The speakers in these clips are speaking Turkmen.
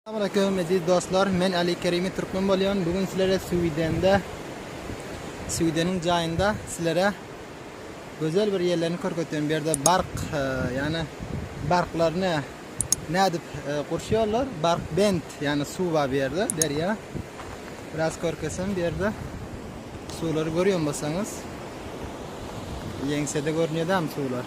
Salam aleýkum eziz dostlar. Men Ali Kerimi Türkmen bolýan. Bu gün sizlere Swidende Swideniň jaýynda sizlere gözel bir ýerlerini körketeýin. Bu ýerde bark, e, ýagny barklaryny nädip e, gurşýarlar? Bark bent, ýagny suw bar bu ýerde, derýa. Biraz körkesem bu ýerde suwlary görýän bolsaňyz. Ýeňsede görünýär dämi suwlar?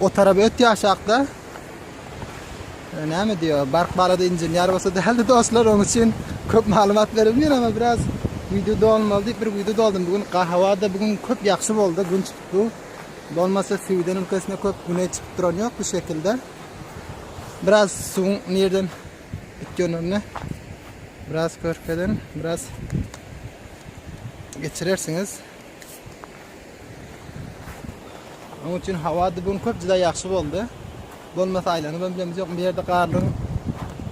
O tarap öt ýaşakda. Näme diýo? Bark balada inženýer bolsa däldi dostlar, oň üçin köp maglumat beremir, emma biraz wideo dolmaly diýip bir wideo doldum. Bu gün hawada bu gün köp ýagşy boldy, gün çykdy. Bolmasa Sweden ülkesinde köp güne çykyp duran ýok bu şekilde. Biraz suwuň nirden itgenini biraz körkezen, biraz geçirersiňiz. Onuň üçin hawa bu gün köp juda ýagşy boldy. Bolmasa aýlanyp hem bilemizok. Bu ýerde garlygyň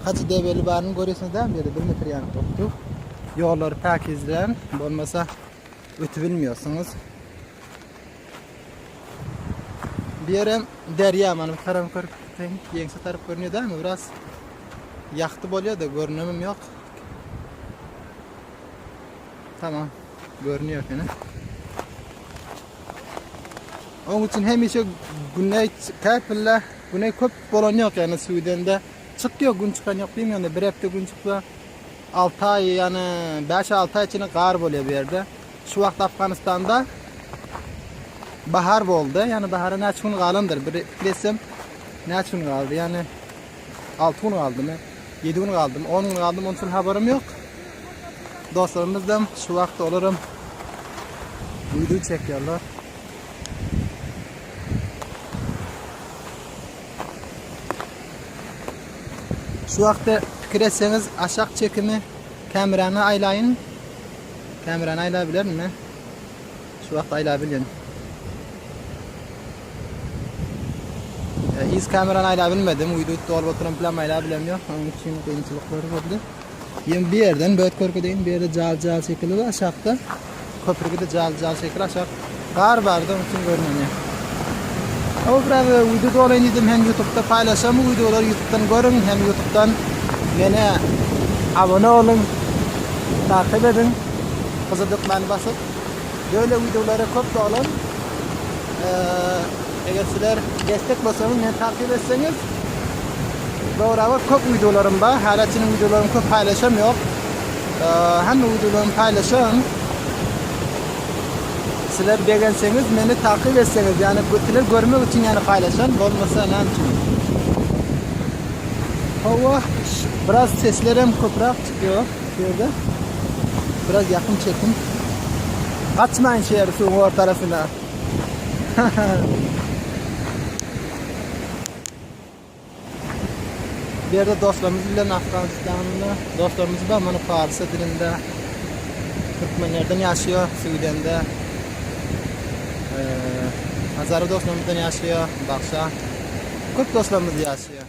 haçy debeli baryny görýärsiňiz däl bu ýerde 1 metr ýanyp durupdyr. Ýollary päkizlän bolmasa ötüp bilmeýärsiňiz. Bu ýer hem derýa mana bu tarap görüp ýeňse tarap görünýär däl biraz ýagty bolýar-da görünemem ýok. Tamam. Görünýär ekeni. Oň üçin hemişe güne käpille güne köp bolan ýok, ýani suwdende çykýar, gün çykan ýok diýim, ýani bir hepde gün çyksa 6 aý, ýani 5-6 aý içinde gar bolýar bu ýerde. Şu wagt Afganistanda bahar boldy, ýani bahara näçe gün galandyr, bir desem näçe gün galdy, ýani Alty gün galdymy, ýedi gün galdymy, on gün galdymy, ondan habarym ýok. Dostlarymyzam şu wagtda olaram wideo çekýärler. Şu wagtda pikir etseňiz, aşak çekimi kamerany aýlaýyn. Kamerany aýlap bilermi? Şu wagt aýlap bilýän. Yz kamerany aýlap bilmedim. Uýdut dolup oturan plan aýlap bilem ýok. Onuň üçin kynçylyklar boldy. Ýem bir ýerden böt körkedeýin. Bir ýerde jal jal şekili bar aşakda. Köprügi de jal jal şekili aşak. Gar bardy onuň üçin görünmedi. O biraz uýdu dolaýyn diýdim. Hem YouTube'da paýlaşam bu wideolary YouTube'dan görüň. Hem YouTube'dan meni abone olun. Takip edin. Gyzyl dökmäni basyp böyle wideolara köp dolun. Eger sizler destek bolsaňyz meni takip etseňiz Dograba köp wideolarym bar. Häleçiniň wideolaryny köp paýlaşam ýok. Hemme wideolarymy paýlaşan. Sizler begenseňiz meni takip etseňiz ýani sizler görmek üçin ýani paýlaşan bolmasa näme üçin. Hawa biraz seslerem köpräk Ýok, şu ýerde biraz ýakyn çekiň. Gaçmaýyn şu ýeri suwuň ortarasyna. Bu ýerde dostlarymyz bilen Afganistanly dostlarymyz bar, muny parsça dilinde türkmenlerden ýaşaýar, Süwidende Hazara dostlarymyzdan ýaşaýar, Bagşa. Köp dostlarymyz ýaşaýar.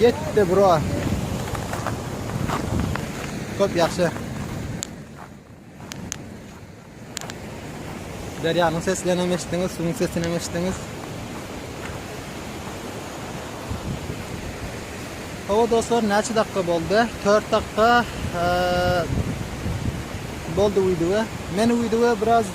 Ýetdi bro. Köp ýagşy. Derýanyň seslerini hem eşitdiňiz, suwuň sesini hem eşitdiňiz. Hawa dostlar, näçe dakika boldy? 4 dakika boldy wideo. Men wideo biraz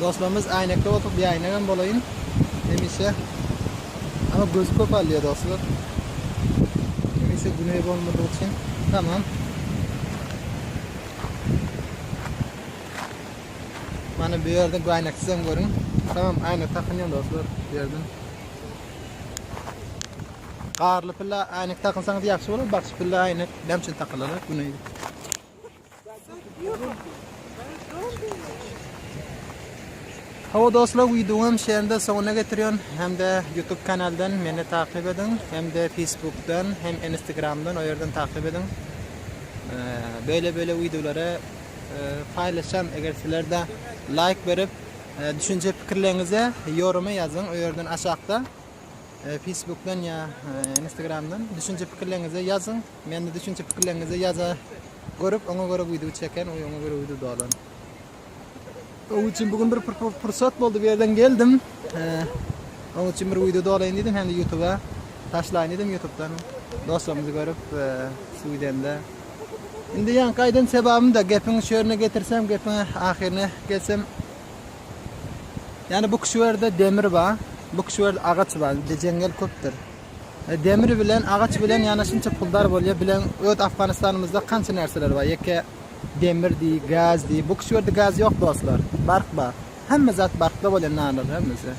Dostlarymyz äýnekli bolsa bir äýnegem bolaýyn hemişe. Ama gözi köp alýar dostlar. Hemişe güne bolmadygy üçin. Tamam. Mana bu ýerde bu äýneksiz hem görüň. Tamam, äýnek takynýan dostlar bu ýerden. Garly pilla äýnek takynsaňyz ýagşy bolar. Bagşy pilla äýnek näme üçin takylar? Güne. Hawa dostlar, wideoňam şeýle soňuna getirýän hem-de YouTube kanaldan meni takyp ediň, hem-de Facebookdan, hem Instagramdan o ýerden takyp ediň. Beýle-beýle wideolary paýlaşan, eger sizlerde laýk berip, düşünje pikirleriňizi ýoruma ýazyň, o ýerden aşakda Facebookdan ýa Instagramdan düşünje pikirleriňizi ýazyň. Mende düşünje pikirleriňizi ýaza görüp oňa göre wideo çeken we oňa göre wideo dolan. Oň üçin bugün bir pursat boldy bir ýerden geldim. Oň üçin bir wideo dolaýyn diýdim hem-de YouTube-a taşlaýyn diýdim YouTube-dan dostlarymyzy görüp şu widende. Indi ýa gaýdan sebabym da gepiň şu ýerine getirsem gepiň ahyryna gelsem Yani bu kişilerde demir ba, bu kişilerde agaç ba, bizde jeňňel köpdür. Demir bilen agaç bilen ýanaş inçe puldar bolýa bilen öz Afganistanymyzda kança närseler bar ýeke demir diý gaz diý bu kişierde gaz ýok dostlar bark bar hemme zat barkda bolýa nalar hemmesi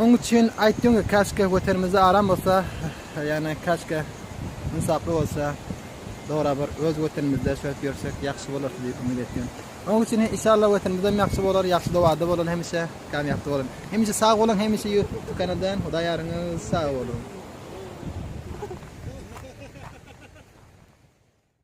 oň üçin aýtdyň ki kaşke wetenimizde aram bolsa ýane kaşke ynsaply bolsa dogry bir öz wetenimizde şöhlet ýörsek ýagşy bolar diýip umyt etýän. Oň üçin hem inşallah wetenimizem ýagşy bolar ýagşy dowada bolun hemişe kamyapda bolun hemişe sag bolun hemişe ýurtda kanadan hudaý ýaryňyz sag bolun.